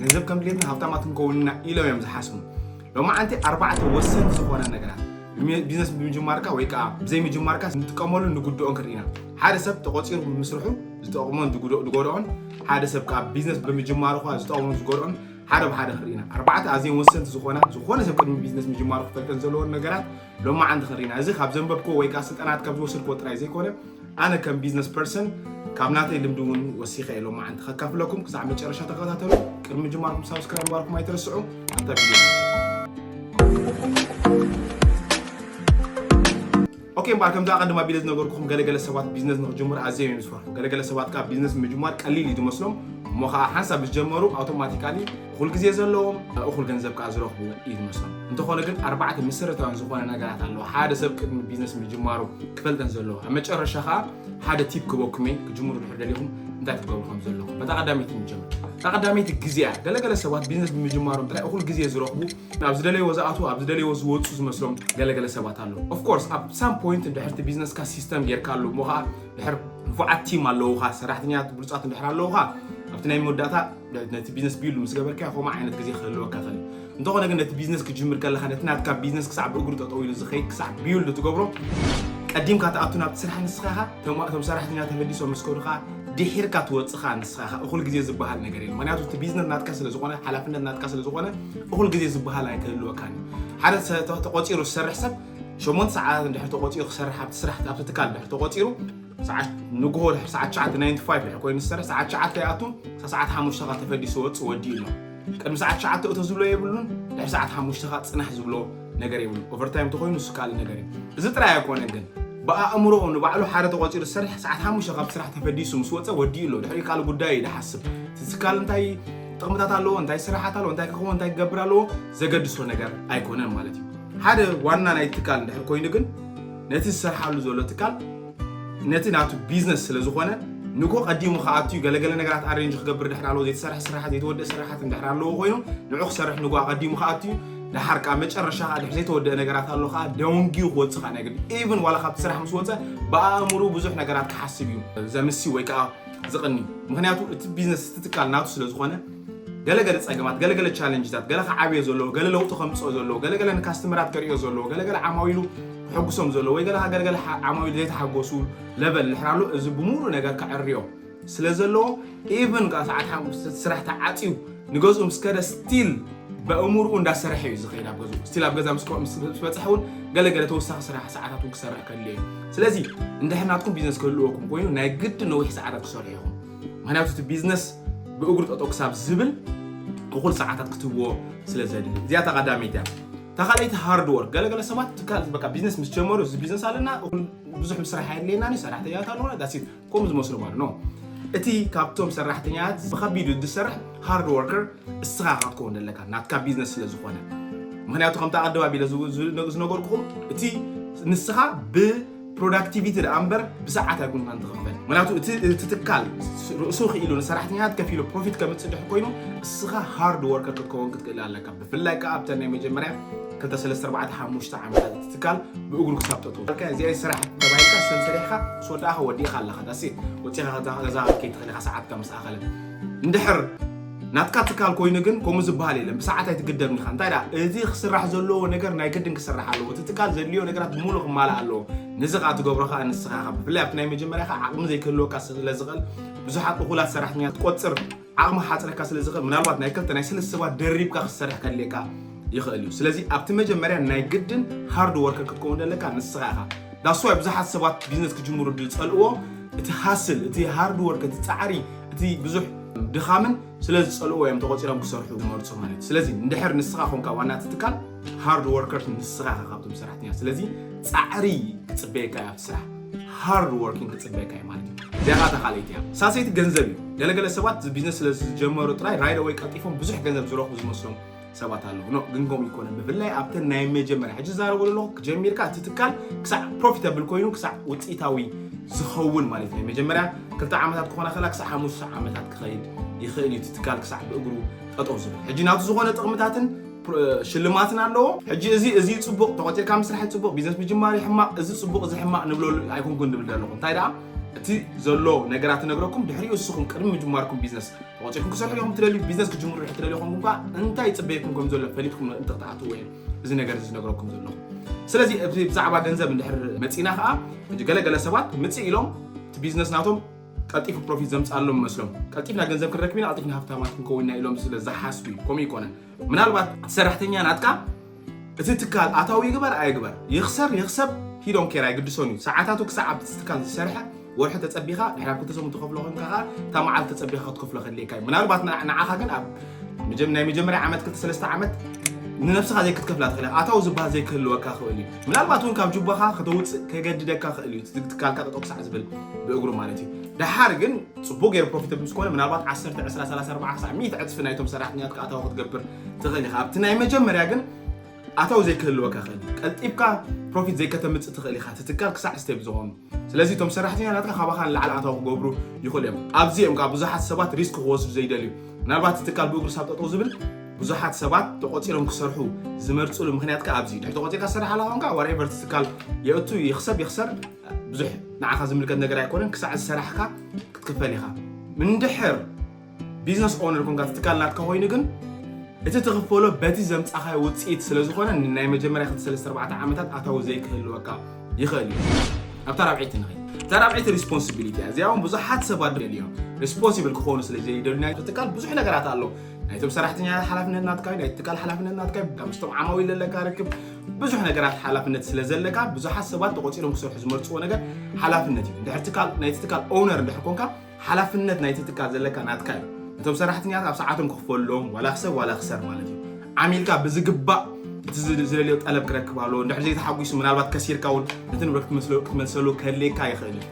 ገንዘብ ከም ድሌትና ሃብታማት ክንከውን ኢና ኢሎም እዮም ዝሓስቡ ሎማዓንቲ ኣርባዕተ ወሰንቲ ዝኾነ ነገራት ቢዝነስ ብምጅማርካ ወይ ከዓ ብዘይምጅማርካ ንጥቀመሉ ንጉድኦን ክንርኢና ሓደ ሰብ ተቆፂሩ ብምስርሑ ዝጠቕሞን ዝጎድኦን ሓደ ሰብ ከዓ ቢዝነስ ብምጅማሩ ከዓ ዝጠቕሞን ዝጎድኦን ሓደ ብሓደ ክንርኢና ኣርባዕተ ኣዝዮም ወሰንቲ ዝኾና ዝኾነ ሰብ ቅድሚ ቢዝነስ ምጅማሩ ክፈልጠን ዘለዎን ነገራት ሎማዓንቲ ክሪና እዚ ካብ ዘንበብክዎ ወይ ከኣ ስልጠናት ካብ ዝወሰድክዎ ጥራይ ዘይኮነ ኣነ ከም ቢዝነስ ፐርሰን ካብ ናተይ ልምዲ እውን ወሲኸ እየ ሎማዓንቲ ከካፍለኩም ክሳዕ መጨረሻ ተኸታተሉ ቅድሚ ምጅማርኩም ሳብስክራይብ ምግባርኩም ኣይትረስዑ ኣብታ ቪድዮ ኦኬ እምበኣር ከምዚ ኣቐድም ኣቢለ ዝነገርኩኹም ገለገለ ሰባት ቢዝነስ ንክጅምሩ ኣዝየ እዮም ዝፈርሑ ገለገለ ሰባት ከዓ ቢዝነስ ምጅማር ቀሊል እዩ ዝመስሎም እሞ ከዓ ሓንሳብ ምስ ጀመሩ ኣውቶማቲካሊ እኹል ግዜ ዘለዎም እኹል ገንዘብ ከኣ ዝረኽቡ እዩ ዝመስሎም። እንተኾነ ግን ኣርባዕተ መሰረታውያን ዝኾነ ነገራት ኣለዎ ሓደ ሰብ ቅድሚ ቢዝነስ ምጅማሩ ክፈልጠን ዘለዎ። ኣብ መጨረሻ ከኣ ሓደ ቲፕ ክበኩም እየ ክጅምሩ ድሕር ደሊኹም እንታይ ክትገብሩ ከም ዘለኹም። በታ ቀዳመይቲ ንጀምር። እታ ቀዳመይቲ ግዜ እያ። ገለገለ ሰባት ቢዝነስ ብምጅማሮም ጥራይ እኹል ግዜ ዝረኽቡ ናብ ዝደለይዎ ዝኣትዉ ኣብ ዝደለይዎ ዝወጹ ዝመስሎም ገለገለ ሰባት ኣለዉ። ኦፍ ኮርስ ኣብ ሳም ፖይንት ድሕርቲ ቢዝነስካ ሲስተም ጌርካሉ እሞ ከኣ ድሕር ንፉዓት ቲም ኣለዉኻ ሰራሕተኛታት ብሉጻት እንድሕር ኣለዉኻ ኣብቲ ናይ መወዳእታ ነቲ ቢዝነስ ቢሉ ምስ ገበርካዮ ከምኡ ዓይነት ግዜ ክህልወካ ይኽእል እዩ እንተኾነ ግን ነቲ ቢዝነስ ክጅምር ከለካ ነቲ ናትካ ቢዝነስ ክሳዕ ብእግሩ ጠጠው ኢሉ ዝኸይድ ክሳዕ ቢውልድ ትገብሮ ቀዲምካ ትኣቱ ናብቲ ስራሕ ንስኻ ኢኻ እቶም ሰራሕተኛ ተመሊሶም ምስ ከዱ ከዓ ድሒርካ ትወፅእ ከዓ ንስኻ ኢኻ እኹል ግዜ ዝበሃል ነገር የለ ምክንያቱ እቲ ቢዝነስ ናትካ ስለ ዝኾነ ሓላፍነት ናትካ ስለ ዝኾነ እኹል ግዜ ዝበሃል ኣይክህልወካን እዩ ሓደ ተቆፂሩ ዝሰርሕ ሰብ ሸሞንተ ሰዓታት እንድሕር ተቆፂሩ ክሰርሕ ኣብቲ ስራሕ ኣብቲ ትካል እንድሕር ተቆፂሩ ሰዓት ንግሆ ድሕሪ ሰዓት ትሽዓተ ናይን ቱ ፋይቭ ድሕሪ ኮይኑ ዝሰርሕ ሰዓት ትሽዓተ ይኣቱ ክሳብ ሰዓት ሓሙሽተ ከ ተፈዲሱ ወፅእ ወዲኡ ኣሎ ቅድሚ ሰዓት ትሽዓተ እቶ ዝብሎ የብሉን ድሕሪ ሰዓት ሓሙሽተ ከ ፅናሕ ዝብሎ ነገር የብሉን ኦቨርታይም እንተኮይኑ ንሱ ካልእ ነገር እዩ እዚ ጥራይ ኣይኮነን ግን ብኣእምሮኡ ንባዕሉ ሓደ ተቆፂሩ ዝሰርሕ ሰዓት ሓሙሽተ ካብ ስራሕ ተፈዲሱ ምስ ወፀ ወዲኡ ኣሎ ድሕሪ ካልእ ጉዳይ እዩ ዝሓስብ እቲ ትካል እንታይ ጥቕምታት ኣለዎ እንታይ ስራሓት ኣለዎ እንታይ ክኸውን እንታይ ክገብር ኣለዎ ዘገድሶ ነገር ኣይኮነን ማለት እዩ ሓደ ዋና ናይ ትካል እንድሕር ኮይኑ ግን ነቲ ዝሰርሓሉ ዘሎ ትካል ነቲ ናቱ ቢዝነስ ስለ ዝኾነ ንኮ ቀዲሙ ከኣትዩ ገለገለ ነገራት ኣሬንጅ ክገብር ድሕር ኣለዎ ዘይተሰርሐ ስራሓት ዘይተወደእ ስራሓት ድሕር ኣለዎ ኮይኑ ንዑ ክሰርሕ ንጎ ኣቀዲሙ ከኣትዩ ድሓር ከዓ መጨረሻ ከዓ ድሕር ዘይተወደአ ነገራት ኣሎ ከዓ ደንጊዩ ክወፅእ ከዓ ናይ ግድ ኢቭን ዋላ ካብቲ ስራሕ ምስ ወፀ ብኣእምሩ ብዙሕ ነገራት ክሓስብ እዩ ዘምሲ ወይ ከዓ ዝቕኒ ምክንያቱ እቲ ቢዝነስ ትትካል ናቱ ስለ ዝኾነ ገለ ገለ ጸገማት፣ ገለ ገለ ቻለንጅታት፣ ገለ ክዓብዮ ዘለዎ፣ ገለ ለውጢ ከምጽኦ ዘለዎ፣ ገለ ገለ ንካስተመራት ከርእዮ ዘለዎ፣ ገለ ገለ ዓማዊሉ ክሕጉሶም ዘለዎ፣ ወይ ገለ ገለ ገለ ዓማዊሉ ዘይተሓጎሱ ለቨል ንሕራሉ እዚ ብምሉእ ነገር ከዕርዮ ስለ ዘለዎ ኢቭን ካብ ሰዓት ሓሙሽተ ስራሕ ተዓጽዩ ንገዝኡ ምስ ከደ ስቲል በእምርኡ እንዳሰርሐ እዩ ዝኸይድ ኣብ ገዝኡ ስቲል ኣብ ገዛ ምስ በፅሐ እውን ገለገለ ተወሳኺ ስራሕ ሰዓታት እውን ክሰርሕ ከድልዮ እዩ ስለዚ እንድሕር ናትኩም ቢዝነስ ክህልወኩም ኮይኑ ናይ ግድ ነዊሕ ሰዓታት ክሰርሑ ኢኹም ምክንያቱ እቲ ቢዝነስ ብእግሩ ጠጠው ክሳብ ዝብል እኹል ሰዓታት ክትህቦ ስለ ዘድሊ እዚኣ እታ ቀዳመይቲ እያ እታ ካልኣይቲ ሃርድ ወርክ ገለገለ ሰባት ትካል በቃ ቢዝነስ ምስ ጀመሩ እዚ ቢዝነስ ኣለና እኹል ብዙሕ ምስራሕ ኣየድልየናን እዩ ሰራሕተኛታት ኣለውና ዳሲት ከምኡ ዝመስሉ ማለት ነው እቲ ካብቶም ሰራሕተኛታት ብከቢዱ ዝሰርሕ ሃርድ ወርከር እስኻ ኢኻ ክትከውን ዘለካ ናትካ ቢዝነስ ስለ ዝኾነ ምክንያቱ ከምቲ ኣቐድም ኣቢለ ዝነገርኩኹም እቲ ንስኻ ብ ፕሮዳክቲቪቲ ደኣ እምበር ብሰዓት ኣይኮንካን ትኽፈል ምክንያቱ እቲ ትካል ርእሱ ክኢሉ ንሰራሕተኛታት ከፊሉ ፕሮፊት ከምፅእ ድሕ ኮይኑ እስኻ ሃርድ ወርከር ክትከውን ክትክእል ኣለካ ብፍላይ ከዓ ኣብተን ናይ መጀመርያ 234 ዓመታት እቲ ትካል ብእግሩ ክሳብ ጠጡ እዚኣ ስራሕ ተባሂልካ ሰንሰሪሕካ ስወዳእኻ ወዲእኻ ኣለኻ ዳሴ ወፂኻ ገዛ ከይትኽእል ኢኻ ሰዓትካ ምስ ኣኸለ እንድሕር ናትካ ትካል ኮይኑ ግን ከምኡ ዝበሃል የለን ብሰዓት ኣይትግደብን ኢኻ እንታይ ደኣ እዚ ክስራሕ ዘለዎ ነገር ናይ ግድን ክስራሕ ኣለዎ እቲ ትካል ዘድልዮ ነገራት ብምሉእ ክማላእ ኣለዎ ነዚ ከዓ ትገብሮ ከዓ ንስኻ ኢኻ ብፍላይ ኣብቲ ናይ መጀመርያ ከዓ ዓቕሚ ዘይክህልወካ ስለ ዝኽእል ብዙሓት እኹላት ሰራሕተኛ ትቆፅር ዓቕሚ ክሓፅረካ ስለ ዝኽእል ምናልባት ናይ ክልተ ናይ ስልስተ ሰባት ደሪብካ ክትሰርሕ ከድልየካ ይኽእል እዩ ስለዚ ኣብቲ መጀመርያ ናይ ግድን ሃርድ ወርከር ክትከውን ዘለካ ንስኻ ኢኻ ዳስዋይ ብዙሓት ሰባት ቢዝነስ ክጅምሩ ዝፀልእዎ እቲ ሃስል እቲ ሃርድ ወርክ እቲ ፃዕሪ እቲ ብዙሕ ድኻምን ስለ ዝጸልዎ እዮም ተቆጺሮም ክሰርሑ ዝመርጹ ማለት እዩ ስለዚ እንድሕር ንስኻ ኮንካ ዋና እቲ ትካል ሃርድ ወርከርስ ንስኻ ኢኻ ካብቶም ሰራሕተኛ ስለዚ ጻዕሪ ክጽበየካ እያ ስራሕ ሃርድ ወርኪንግ ክጽበየካ እዩ ማለት እዩ እዚኣ ካታ ካልኣይቲ እያ ሳሰይቲ ገንዘብ እዩ ገለገለ ሰባት ቢዝነስ ስለ ዝጀመሩ ጥራይ ራይደ ወይ ቀልጢፎም ብዙሕ ገንዘብ ዝረኽቡ ዝመስሎም ሰባት ኣለዉ ኖ ግን ከምኡ ይኮነ ብፍላይ ኣብተን ናይ መጀመርያ ሕጂ ዛረቡ ዘለኹ ጀሚርካ እቲ ትካል ክሳዕ ፕሮፊታብል ኮይኑ ክሳዕ ውፅኢታዊ ዝኸውን ማለት ናይ መጀመርያ ክልተ ዓመታት ክኾና ከላ ክሳዕ ሓሙሽተ ዓመታት ክኸይድ ይኽእል እዩ እቲ ትካል ክሳዕ ብእግሩ ጠጠው ዝብል ሕጂ ናብቲ ዝኾነ ጥቕምታትን ሽልማትን ኣለዎ ሕጂ እዚ እዚ ፅቡቕ ተቆፂርካ ምስራሕ ፅቡቕ ቢዝነስ ምጅማር ሕማቕ እዚ ፅቡቕ እዚ ሕማቕ ንብለሉ ኣይኮንኩን ዝብል ዘለኹ እንታይ ደኣ እቲ ዘሎ ነገራት ነግረኩም ድሕሪኡ እስኹም ቅድሚ ምጅማርኩም ቢዝነስ ተዋፂኹም ክሰርሑ እዮም ትደልዩ ቢዝነስ ክጅምሩ ሕ ትደልዩ ኹም እኳ እንታይ ፅበየኩም ከም ዘሎ ፈሊጥኩም እንትክትኣትዎ እየ እዚ ነገር እዚ ነገረኩም ዘለኹ ስለዚ እዚ ብዛዕባ ገንዘብ እንድሕር መፂና ከዓ ሕጂ ገለገለ ሰባት ምፅእ ኢሎም እቲ ቢዝነስ ናቶም ቀልጢፉ ፕሮፊት ዘምፃሎም መስሎም ቀልጢፍና ገንዘብ ክንረክብ ኢና ቀልጢፍና ሃብታማት ክንከውን ኢና ኢሎም ስለ ዝሓስቡ እዩ ከምኡ ይኮነን ምናልባት እቲ ሰራሕተኛ ናትካ እቲ ትካል ኣታዊ ይግበር ኣይግበር፣ ይኽሰር ይኽሰብ ሂ ዶንት ኬር ኣይግድሶን እዩ። ሰዓታቱ ክሳዕ ኣብቲ ትካል ዝሰርሐ ወርሒ ተጸቢኻ ድሕሪ ኣብ ክልተ ሰሙን ትኸፍሎ ኮንካ ከኣ እታ መዓልቲ ተጸቢኻ ክትከፍሎ ከድልየካ እዩ። ምናልባት ንዓኻ ግን ኣብ ምጀ ናይ መጀመርያ ዓመት ክልተ ሰለስተ ዓመት ንነብስኻ ዘይክትከፍላ ትኽእል እያ። ኣታዊ ዝበሃል ዘይክህልወካ ክእል እዩ። ምናልባት እውን ካብ ጁባኻ ከተውጽእ ከገድደካ ክእል እዩ። እቲ ትካልካ ጠጠው ክሳዕ ዝብል ብእግሩ ማለት እዩ። ደሓር ግን ጽቡቕ ገይሩ ፕሮፊተብል ምስ ኮነ ምናልባት ዓሰርተ፣ ዕስራ፣ ሰላሳ፣ ኣርብዓ ክሳዕ ሚእቲ ዕጽፊ ናይቶም ሰራሕተኛትካ ኣታዊ ክትገብር ትኽእል ኢኻ። ኣብቲ ናይ መጀመርያ ግን ኣታዊ ዘይክህልወካ ይኽእል እዩ። ቀልጢፍካ ፕሮፊት ዘይከተምፅእ ትኽእል ኢኻ ትትካል ክሳዕ ስቴፕ ዝኾኑ። ስለዚ እቶም ሰራሕተኛታትካ ካባኻ ንላዕሊ ኣታዊ ክገብሩ ይኽእሉ እዮም። ኣብዚ እዮም ከዓ ብዙሓት ሰባት ሪስክ ክወስዱ ዘይደልዩ። ምናልባት እቲ ትካል ብእግሩ ሳብ ጠጠው ዝብል ብዙሓት ሰባት ተቆፂሮም ክሰርሑ ዝመርፅሉ ምክንያት ከዓ ኣብዚ ድሕሪ ተቆፂርካ ትሰርሕ ኣላ ኮንካ ዋሬቨር ትካል የእቱ ይክሰብ ይክሰር ብዙሕ ንዓኻ ዝምልከት ነገር ኣይኮነን ክሳዕ ዝሰራሕካ ክትክፈል ኢኻ እንድሕር ቢዝነስ ኦነር ኮንካ እቲ ትካል ናትካ ኮይኑ ግን እቲ ትኽፈሎ በቲ ዘምፃኻዮ ውፅኢት ስለ ዝኾነ ንናይ መጀመርያ ክልተ ሰለስተ ኣርባዕተ ዓመታት ኣታዊ ዘይክህልወካ ይኽእል እዩ ኣብታ ራብዐይቲ ንኸ እታ ራብዐይቲ ሪስፖንሲቢሊቲ እያ እዚኣ እውን ብዙሓት ሰባት ደልዮም ሪስፖንሲብል ክኾኑ ስለ ዘይደልዩ ናይ ትካል ብዙሕ ነገራት ኣሎ ናይቶም ሰራሕተኛታት ሓላፍነት ናትካ ናይ ትካል ሓላፍነት ናትካ ካብ ምስቶም ዓማዊ ዘለካ ርክብ ብዙሕ ነገራት ሓላፍነት ስለ ዘለካ ብዙሓት ሰባት ተቆፂሮም ክሰርሑ ዝመርፅዎ ነገር ሓላፍነት እዩ ድሕር ትካል ናይቲ ትካል ኦውነር እንድሕር ኮንካ ሓላፍነት ናይቲ ትካል ዘለካ ናትካ እዩ። እቶም ሰራሕተኛታት ኣብ ሰዓቶም ክኽፈሉሎም ዋላ ክሰብ ዋላ ክሰር ማለት እዩ። ዓሚልካ ብዝግባእ እቲ ዝደልዮ ጠለብ ክረክብ ኣለዎ። እንድሕር ዘይተሓጒሱ ምናልባት ከሲርካ እውን ነቲ ንብረት ክትመስሎ ክትመልሰሉ ከድልየካ ይኽእል እዩ።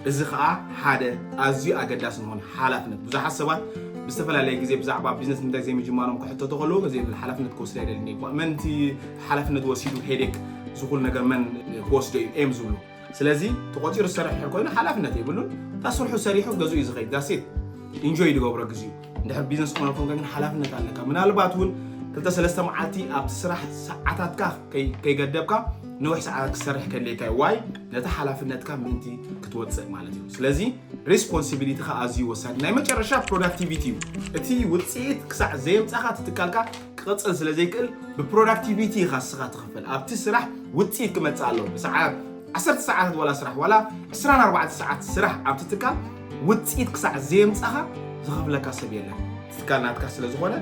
እዚ ከኣ ሓደ ኣዝዩ ኣገዳሲ ዝኾነ ሓላፍነት ብዙሓት ሰባት ብዝተፈላለየ ግዜ ብዛዕባ ቢዝነስ ንምንታይ ዘይምጅማሮም ክሕተቱ ከለዉ ነዚ የብል ሓላፍነት ክወስድ ኣይደልን እየ እኳ መን እቲ ሓላፍነት ወሲዱ ሄዴክ ዝኹሉ ነገር መን ክወስዶ እዩ እዮም ዝብሉ። ስለዚ ተቆፂሩ ዝሰርሕ ድሕር ኮይኑ ሓላፍነት የብሉን እታ ስርሑ ሰሪሑ ገዝኡ እዩ ዝኸይድ ዳሴት ኢንጆይ ዝገብሮ ግዜኡ እንድሕር ቢዝነስ ኦነር ኮንካ ግን ሓላፍነት ኣለካ ምናልባት እውን ክልተ ሰለስተ መዓልቲ ኣብቲ ስራሕ ሰዓታትካ ከይገደብካ ነዊሕ ሰዓታት ክሰርሕ ከድልየካ እዩ ዋይ ነቲ ሓላፍነትካ ምእንቲ ክትወፅእ ማለት እዩ ስለዚ ሬስፖንሲቢሊቲካ ኣዝዩ ወሳኒ ናይ መጨረሻ ፕሮዳክቲቪቲ እዩ እቲ ውፅኢት ክሳዕ ዘየምፃኻ ትትካልካ ክቕጽል ስለ ዘይክእል ብፕሮዳክቲቪቲ ኢኻ ንስኻ ትኽፈል ኣብቲ ስራሕ ውፅኢት ክመፅእ ኣለዎ ብሰዓት ዓሰርተ ሰዓታት ዋላ ስራሕ ዋላ 24 ሰዓት ስራሕ ኣብቲ ትካል ውፅኢት ክሳዕ ዘየምፃኻ ዝኸፍለካ ሰብ የለን ትካል ናትካ ስለ ዝኾነ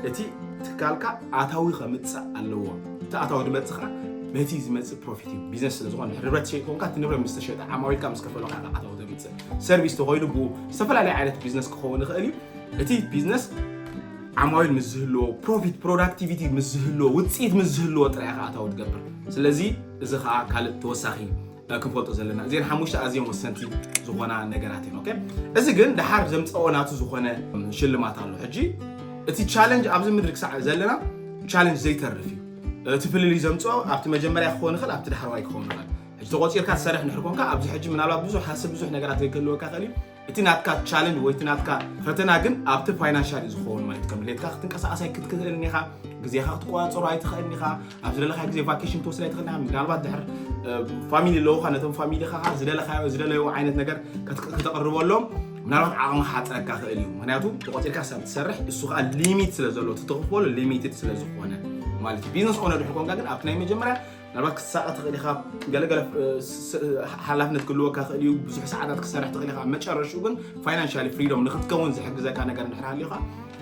እቲ ትካልካ ኣታዊ ከምፅእ ኣለዎ እቲ ኣታዊ ድመፅእ ከዓ በቲ ዝመፅእ ፕሮፊት እዩ ቢዝነስ ስለ ዝኾነ ንብረት ሸይጥ ኮንካ እቲ ንብረት ምስ ተሸጠ ዓማዊልካ ምስ ከፈለካ ኣታዊ ተምፅእ ሰርቪስ ተኮይኑ ብኡ ዝተፈላለዩ ዓይነት ቢዝነስ ክኸውን ይኽእል እዩ እቲ ቢዝነስ ዓማዊል ምስ ዝህልዎ ፕሮፊት ፕሮዳክቲቪቲ ምስ ዝህልዎ ውፅኢት ምስ ዝህልዎ ጥራይ ከዓ ኣታዊ ትገብር ስለዚ እዚ ከዓ ካልእ ተወሳኺ ክንፈልጦ ዘለና እዚን ሓሙሽተ ኣዝዮም ወሰንቲ ዝኾና ነገራት እየን ኦኬ እዚ ግን ድሓር ዘምፀኦ ናቱ ዝኾነ ሽልማት ኣሎ ሕጂ እቲ ቻለንጅ ኣብዚ ምድሪ ክሳዕ ዘለና ቻለንጅ ዘይተርፍ እዩ እቲ ፍልልይ ዘምፅኦ ኣብቲ መጀመርያ ክኸውን ይኽእል ኣብቲ ዳሕረዋይ ክኸውን ይኽእል ሕጂ ተቆፂርካ ትሰርሕ ንድሕር ኮንካ ኣብዚ ሕጂ ምናልባት ብዙሕ ሃስብ ብዙሕ ነገራት ክህልወካ ይኽእል እዩ እቲ ናትካ ቻለንጅ ወይ እቲ ናትካ ፈተና ግን ኣብቲ ፋይናንሻል እዩ ዝኸውን ማለት ከም ድሌትካ ክትንቀሳቀስ ኣይክትክእልን ኢኻ ግዜኻ ክትቆፃፀሮ ኣይትኽእልን ኢኻ ኣብ ዝደለካዮ ግዜ ቫኬሽን ትወስድ ኣይትኽእልን ኢኻ ምናልባት ድሕር ፋሚሊ ኣለውካ ነቶም ፋሚሊኻ ከዓ ዝደለካዮ ዝደለዩ ዓይነት ነገር ከት- ከተቕርበሎም ምናልባት ዓቕሚ ክሓፅረካ ክእል እዩ ምክንያቱ ተቆፂርካ ሰብ ትሰርሕ እሱ ከዓ ሊሚት ስለ ዘለዎ እቲ ተኽፈሉ ሊሚትድ ስለ ዝኾነ ማለት እዩ ቢዝነስ ኦነር ድሕር ኮንካ ግን ኣብቲ ናይ መጀመርያ ምናልባት ክትሳቐ ትኽእል ኢኻ፣ ገለ ገለ ሓላፍነት ክህልወካ ይኽእል እዩ፣ ብዙሕ ሰዓታት ክሰርሕ ትኽእል ኢኻ። መጨረሽኡ ግን ፋይናንሻሊ ፍሪዶም ንክትከውን ዝሕግዘካ ነገር እንድሕር ሃልዩካ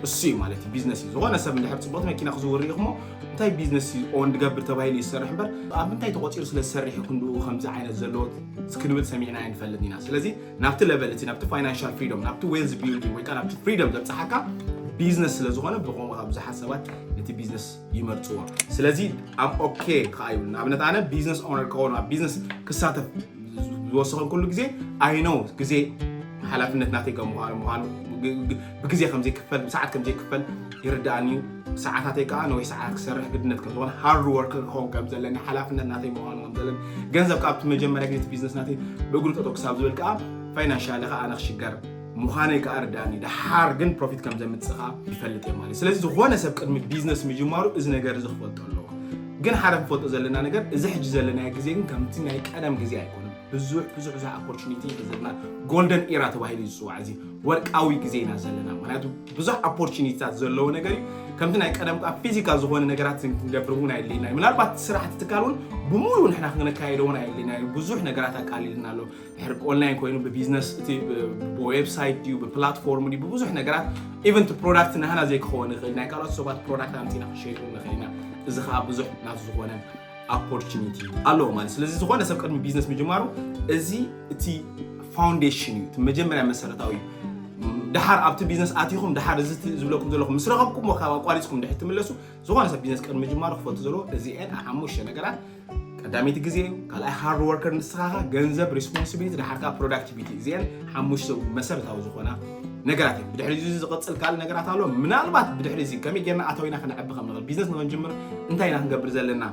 እሱ እዩ ማለት እዩ ቢዝነስ እዩ። ዝኾነ ሰብ እንድሕር ፅቡቕቲ መኪና ክዝውር ሪኢኹሞ እንታይ ቢዝነስ እዩ ኦን ድገብር ተባሂሉ እዩ ዝሰርሕ እምበር ኣብ ምንታይ ተቖፂሩ ስለ ዝሰርሕ እዩ ክንድኡ ከምዚ ዓይነት ዘለዎ ክንብል ሰሚዕና ኣይንፈልጥ ኢና። ስለዚ ናብቲ ለቨል እቲ ናብቲ ፋይናንሻል ፍሪዶም ናብቲ ዌልዝ ቢልዲንግ ወይ ከዓ ናብቲ ፍሪዶም ዘብፅሓካ ቢዝነስ ስለ ዝኾነ ብኸምኡ ብዙሓት ሰባት ነቲ ቢዝነስ ይመርጽዎ ስለዚ ኣብ ኦኬ ከዓ ይብል ንኣብነት ኣነ ቢዝነስ ኦነር ከኾኑ ኣብ ቢዝነስ ክሳተፍ ዝወሰኸኩሉ ግዜ ኣይነው ግዜ ሓላፍነት ናተይ ከም ምዃኑ ምዃኑ ብግዜ ከምዘይክፈል ብሰዓት ከምዘይክፈል ይርዳእኒ እዩ ሰዓታተይ ከዓ ነዊሕ ሰዓታት ክሰርሕ ግድነት ከም ዝኾነ ሃርድ ወርክ ክኸውን ከም ዘለኒ ሓላፍነት ናተይ ምዃኑ ከም ዘለኒ ገንዘብ ካብቲ መጀመርያ ግዜ ቢዝነስ ናተይ ብእግሩ ጠጠው ክሳብ ዝብል ከዓ ፋይናንሻሊ ከዓ ኣነ ክሽገር ምዃነይ ከዓ ርድኣኒ ደሓር ግን ፕሮፊት ከም ዘምፅእ ከዓ ይፈልጥ እየ ማለት ስለዚ ዝኾነ ሰብ ቅድሚ ቢዝነስ ምጅማሩ እዚ ነገር እዚ ክፈልጦ ኣለዎ ግን ሓደ ክፈልጦ ዘለና ነገር እዚ ሕጂ ዘለናዮ ግዜ ግን ከምቲ ናይ ቀደም ግዜ ኣይኮነን ብዙሕ ብዙሕ ብዙሕ ኦፖርቹኒቲ ዘለና ጎልደን ኢራ ተባሂሉ እዩ ዝፅዋዕ እዚ ወርቃዊ ግዜ ኢና ዘለና ምክንያቱ ብዙሕ ኦፖርቹኒቲታት ዘለዎ ነገር እዩ ከምቲ ናይ ቀደም ከዓ ፊዚካል ዝኾነ ነገራት ክንገብር እውን ኣየድልየና እዩ ምናልባት ስራሕቲ ትካል እውን ብምሉእ ንሕና ክንካየዶ እውን ኣየድልየና እዩ ብዙሕ ነገራት ኣቃሊልና ኣሎ ድሕሪ ብኦንላይን ኮይኑ ብቢዝነስ እቲ ብዌብሳይት ድዩ ብፕላትፎርም ድዩ ብብዙሕ ነገራት ኢቨን እቲ ፕሮዳክት ናህና ዘይክኸውን ይኽእል ናይ ካልኦት ሰባት ፕሮዳክት ኣምፂና ክሸጡ ንኽእል ኢና እዚ ከዓ ብዙሕ ናብ ዝኾነ ኦፖርቹኒቲ ኣለዎ ማለት ስለዚ ዝኾነ ሰብ ቅድሚ ቢዝነስ ምጅማሩ እዚ እቲ ፋውንዴሽን እዩ እቲ መጀመርያ መሰረታዊ እዩ ድሓር ኣብቲ ቢዝነስ ኣቲኹም ድሓር እዚ ዝብለኩም ዘለኹ ምስ ረኸብኩሞ ካብ ኣቋሪፅኩም ድሕር ትምለሱ ዝኾነ ሰብ ቢዝነስ ቅድሚ ምጅማሩ ክፈቱ ዘለዎ እዚኤን ሓሙሽተ ነገራት ቀዳመይቲ ግዜ እዩ ካልኣይ ሃርድ ወርከር ንስኻኻ ገንዘብ ሪስፖንሲቢሊቲ ድሓርካ ፕሮዳክቲቪቲ እዚኤን ሓሙሽተ መሰረታዊ ዝኾና ነገራት እዩ ብድሕሪ እዚ ዝቕፅል ካልእ ነገራት ኣሎ ምናልባት ብድሕሪ እዚ ከመይ ጌርና ኣታዊና ክነዕቢ ከም ንኽእል ቢዝነስ ንክንጅምር እንታይ ኢና ክንገብር ዘለና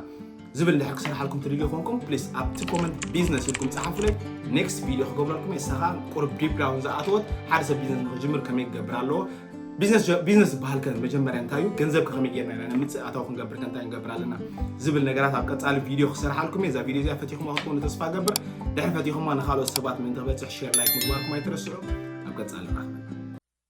ዝብል እንድሕር ክሰርሓልኩም ትድልዩ ኮንኩም ፕሊስ ኣብቲ ኮመንት ቢዝነስ ኢልኩም ፀሓፉለይ ኔክስት ቪድዮ ክገብረልኩም እየ ንሳ ከዓ ቁርብ ዲፕ ዳውን ዝኣተወት ሓደ ሰብ ቢዝነስ ንክጅምር ከመይ ክገብር ኣለዎ ቢዝነስ ዝበሃል ከ መጀመርያ እንታይ እዩ ገንዘብ ከመይ ጌርና ኢና ንምፅእ ኣታዊ ክንገብር ከንታይ ንገብር ኣለና ዝብል ነገራት ኣብ ቀፃሊ ቪድዮ ክሰርሓልኩም እየ እዛ ቪድዮ እዚኣ ፈቲኹማ ክትኮኑ ተስፋ ገብር ድሕሪ ፈቲኹማ ንካልኦት ሰባት ምእንቲ ክበፅሕ ሼር ላይክ ምግባርኩም ኣይትረስዑ ኣብ ቀፃሊ ራኸበና